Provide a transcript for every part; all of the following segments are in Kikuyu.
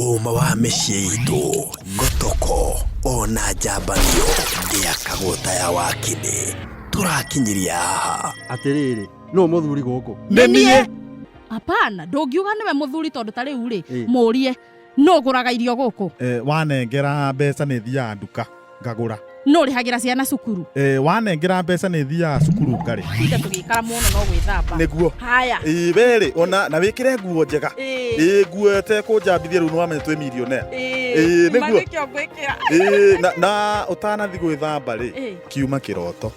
Ũũma wa mĩciĩ itũ nĩ toko ona njambanio ndĩakagwo ta ya wakinĩ tũrakinyiria haha atĩrĩrĩ nũ mũthuri gũkũ nĩ niĩ Hapana, ndũngiuga nĩwe mũthuri tondũ ta rĩu rĩ, Ĩ. mũrie Nũ ũgũraga irio gũkũ? Eh, wanengera mbeca nĩ thiaga nduka ngagũra. Nũ ũrĩhagĩra ciana cukuru? Eh, wanengera mbeca nĩ thiaga cukuru ngarĩ. Tuge tũgĩikara mũno no gwĩthamba. Nĩguo. Haya. Ĩĩ werĩ ona na wĩkĩre nguo njega. Ĩĩ. Ĩĩ nguo ĩtekũnjambithia rĩu nĩwamenya twĩ millionaire. Ĩĩ. Ĩĩ, nĩguo. Kuma nĩkĩo ngwĩkĩra. Ĩĩ na, na ũtanathi gwĩthamba rĩ Ĩĩ. kiuma kĩroto.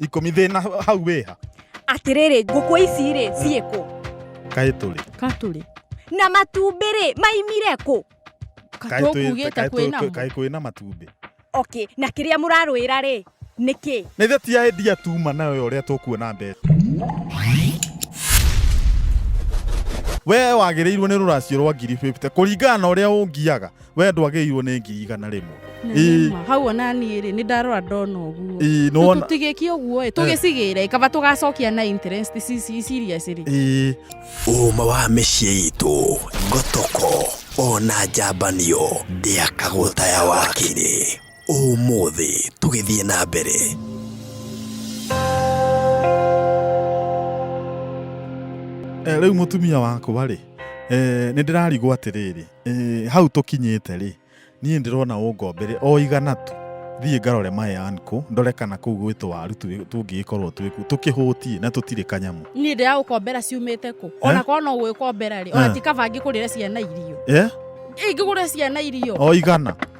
ikũmi thĩna hau wĩha atĩrĩrĩ ngũkũ ici rĩ ciĩ kũ kaĩ tũrĩ katũrĩ na matumbĩ rĩ maimire kũ Kaĩ twĩ- katũkugĩte kaĩ twĩ- kwĩ namo kaĩ kwĩ na matumbĩ okay na kĩrĩa mũrarũĩra rĩ nĩ kĩ nä ithe ti endia tuma nayo å rä a tå kuona mbeca we wagä rä irwo nä rå racio rwa ngiri 50 kå ringana na å rä a å ngiaga we ndwagĩirwo nĩ ngiri igana rĩmwe Na Ii. nĩ ma. hau ona niä rä nä ndarora ndona å guo Ii, nĩ wona- tigä kie å guo tå gä cigä re kaba tå gacokia na interest cici ciria cirä Ii. ũma wa mĩciĩ itũ ngotoko ona njambanio ndĩakagwo taya wakĩrĩ ũmũthĩ tũgĩthiĩ na mbere Eh, rĩu mũtumia wakwa rĩ eh, nĩ ndĩrarigwo atĩrĩrĩ Eh, hau tũkinyĩte rĩ niĩ ndĩrona ũngombere o igana tu thiĩ ngarore mayan kũ ndore kana kũu gwĩtũ waru tu- tũngĩgĩkorwo twĩku tũkĩhũtie na tũtirĩ kanyamũ niä ndä ragåkombera ciumä kå ona korwo no gwä kombera rä ona Eh. ti kaba ngä kå rä re ciana irio eh? ingä gå rä ciana irio o igana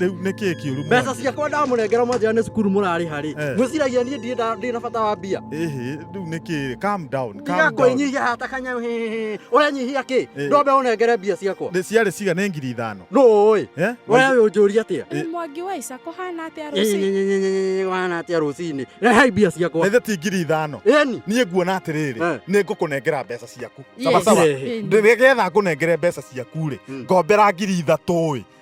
rä u nä kä kä å ru mbeca ciakwa ndamũnengera mwanjĩra nĩ cukuru mũrarĩ harĩ Eh. mwĩciragia niĩ ndirĩ nda- ndirĩ na bata wa mbia rä u nä kä calm down, calm down. igakwĩnyihia hata kanyau hĩhĩhĩ. ũrenyihia kĩ Eh. ndombe ũnengere mbia ciakwa Nĩ ciarĩ ciga nä ngiri ithano nũ ũĩ Eh? we wĩ ũnjũria atĩa Ĩ- mwangi wa ica kũhana atĩa rũciũ Nyenyenyenyenyenyenye, wana atĩa rũcinĩ rehai mbia ciakwa nä ti ngiri ithano ĩni niä nguona atä rä rä Eh. nä ngå kå nengera mbeca ciaku Yes. sawasawa Ĩni. ndä getha ngå nengere mbeca ciaku rä Mm. ngombera ngiri ithatå ä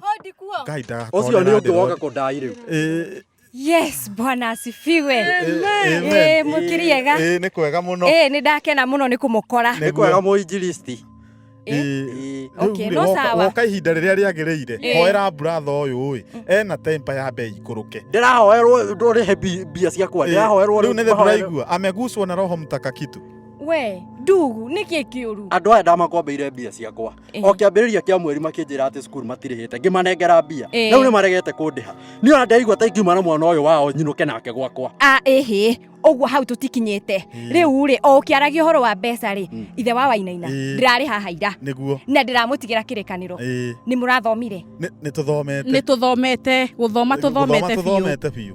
Hodi kuo. Ngai nda- Ũcio nĩ ũngĩ ndĩrona. woka kũndai rĩu. Ĩ- Yes, bwana asifiwe. amen. Eh, mũkiriega. ĩ, nĩ kwega mũno Eh, nĩ ndakena mũno nĩ kũmũkora. Nĩ kwega mũinjilisti. Ĩ, Ĩ, Okay, rĩu-rĩ, no woka- sawa. woka ihinda rĩrĩa rĩagĩrĩire Ĩ. hoera buratha ũyũ-ĩ ena tempa ya mbei ikũrũke Ndĩrahoerwo ndũrĩhe mbi- mbia ciakwa. Ĩ, Ndĩrahoerwo rĩu nĩ thĩ mahoerwo- ndũraigua ameguswo na roho mtakakitu We, ndugu, nĩ kĩ kĩũru? Andũ aya ndamakombeire mbia ciakwa. o kĩambĩrĩria kĩa mweri makĩnjĩra atĩ cukuru matirĩhĩte ngĩmanengera mbia Ĩĩ. rĩu nĩ maregete kũndĩha niĩ ona ndaigua ta ingiuma na mwana ũyũ wao nyinũke nake gwakwa a ĩhĩ ũguo hau tũtikinyĩte rĩu rĩ o ũkĩaragia ũhoro wa mbeca rĩ ithe wa wainaina Ĩĩ. ndĩrarĩ haha ira nĩguo na ndĩramũtigĩra kĩrĩkanĩro Ĩĩ. nĩ mũrathomire nĩ tũthomete nĩ tũthomete gũthoma tũthomete biũ tũthomete biũ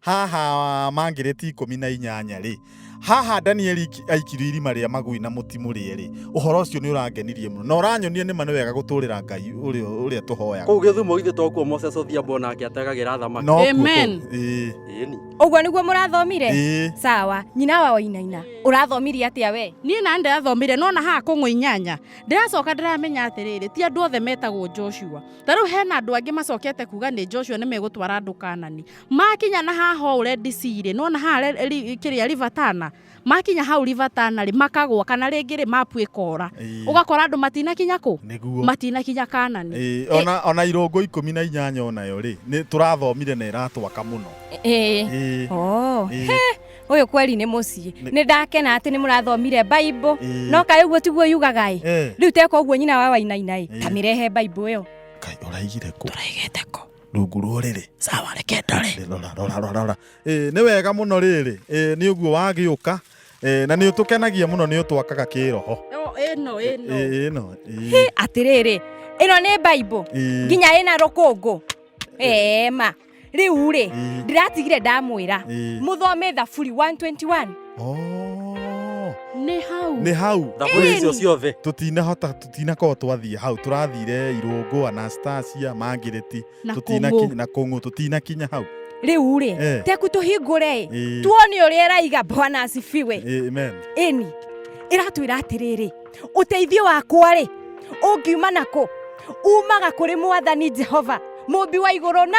haha mangĩrĩti ikũmi na inyanya-rĩ haha danieli aikirio irima rĩa magui na mũtimũ rĩerĩ ũhoro ũcio nĩ ũrangenirie mũno na ũranyonia nĩ ma nĩ wega gũtũrĩra ngai ũrĩa tũhoyaga kũu gĩthumo ithe tokuo moses odhiambo nake ategagĩra thamaki amen ũguo nĩguo mũrathomire sawa nyina wa wainaina ũrathomirie atĩa we niĩ na ndĩrathomire no na haha kũng'ũ inyanya ndĩracoka ndĩramenya atĩrĩrĩ ti andũ othe metagwo joshua ta rĩu hena andũ angĩ macokete kuga nĩ joshua nĩ megũtwara andũ kanani makinya na haha ũũ Red Sea rĩ nona haha re- ri- kĩrĩa River Tana makinya hau River Tana rĩ makagwa kana rĩngĩ rĩ mapu ĩkora Ĩĩ. ũgakora andũ matinakinya kũ nĩguo matinakinya kanani Ĩĩ, Ĩ- ona ona irũngũ ikũmi na inyanya onayo rĩ nĩ tũrathomire na ĩratwaka mũno Ĩĩ. Ĩĩ, Oh. ĩĩ, He, ũyũ kweri nĩ mũciĩ Nĩ- nĩ ndakena atĩ nĩ mũrathomire baibũ ĩĩ. no kaĩ ũguo tiguo yugaga ĩ Eh, rĩu teka ũguo nyina wa wainaina ĩ Ĩĩ. tamĩrehe baibũ ĩyo Kai, ũraigire kũ tũraigĩte kũ rungu rwa ũrĩrĩ sawa reke ndore Ĩ, rora rora rora rora Ĩ, nĩ wega mũno rĩrĩ Ĩ, nĩ ũguo wagĩũka Ĩ, na nĩ ũtũkenagia mũno nĩ ũtwakaga kĩroho No, ĩno Ĩ, ĩno ĩ, ĩno ĩ, Hĩ, atĩrĩrĩ ĩno nĩ baibũ ĩ, nginya ĩna rũkũngũ ema rĩu rĩ ĩ, ndĩratigire ndamwĩra ĩ. mũthome thaburi 121 Oh. nĩ hau nĩ hau thaburi Ĩĩ. icio ciothe tũtinahota tũtinakorwo twathiĩ hau tũrathire irũngũ anastasia mangirĩti na tũtinakinya kũngũ na kũng'ũ tũtinakinya hau rĩu rĩ Eh. teku tũhingũre ĩ Ĩ, tuone ũrĩa ĩraiga bwana asifiwe ĩ, amen ĩni ĩratwĩra atĩrĩrĩ ũteithio wakwa rĩ ũngiuma nakũ umaga kũrĩ mwathani jehova mũmbi wa igũrũ na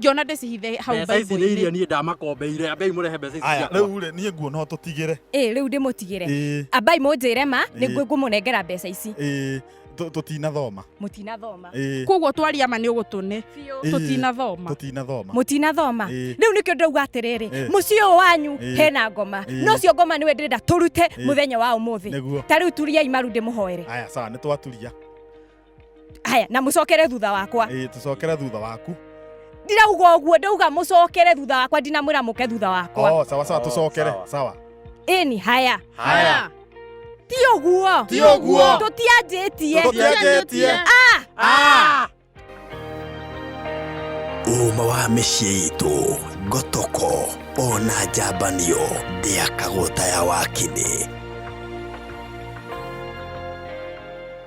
ngĩona ndĩcihithe hau mbeca ici nĩ iria niĩ ndamakombeire ambei mũrehe mbeca ici aya ciakwa rĩu rĩ niĩ nguona tũtigĩre ĩ rĩu ndĩmũtigĩre ĩĩ ambai mũnjĩre ma nĩ Ĩĩ. ngũmũnengera mbeca ici ĩĩ tũ- tũtinathoma mũtinathoma ĩĩ koguo twaria ma nĩ ũgũtũne biũ Ĩĩ. tũtinathoma tũtinathoma mũtinathoma Ĩĩ. rĩu nĩkĩo ndauga atĩrĩrĩ Ĩĩ. mũciĩ ũyũ wanyu Ĩĩ. hena ngoma Ĩĩ. no cio ngoma nĩwe ndĩrenda tũrute Ĩĩ. mũthenya wa ũmũthĩ nĩguo ta rĩu turiai maru ndĩmũhoere aya sawa nĩ twaturia haya na mucokere thutha wakwa ĩĩ tũcokere thutha waku ndirauga uguo ndauga mucokere thutha wakwa ndinamwira muke thutha wakwa oh, sawa sawa Oh, tũcokere sawa. sawa ini haya Haya. ti uguo Ti ũguo. tutianjĩtie Tũtianjĩtie. Ah! Ah! ũũma wa mĩciĩ itũ ngotoko ona njambanio ndĩakagwo ta ya wakinĩ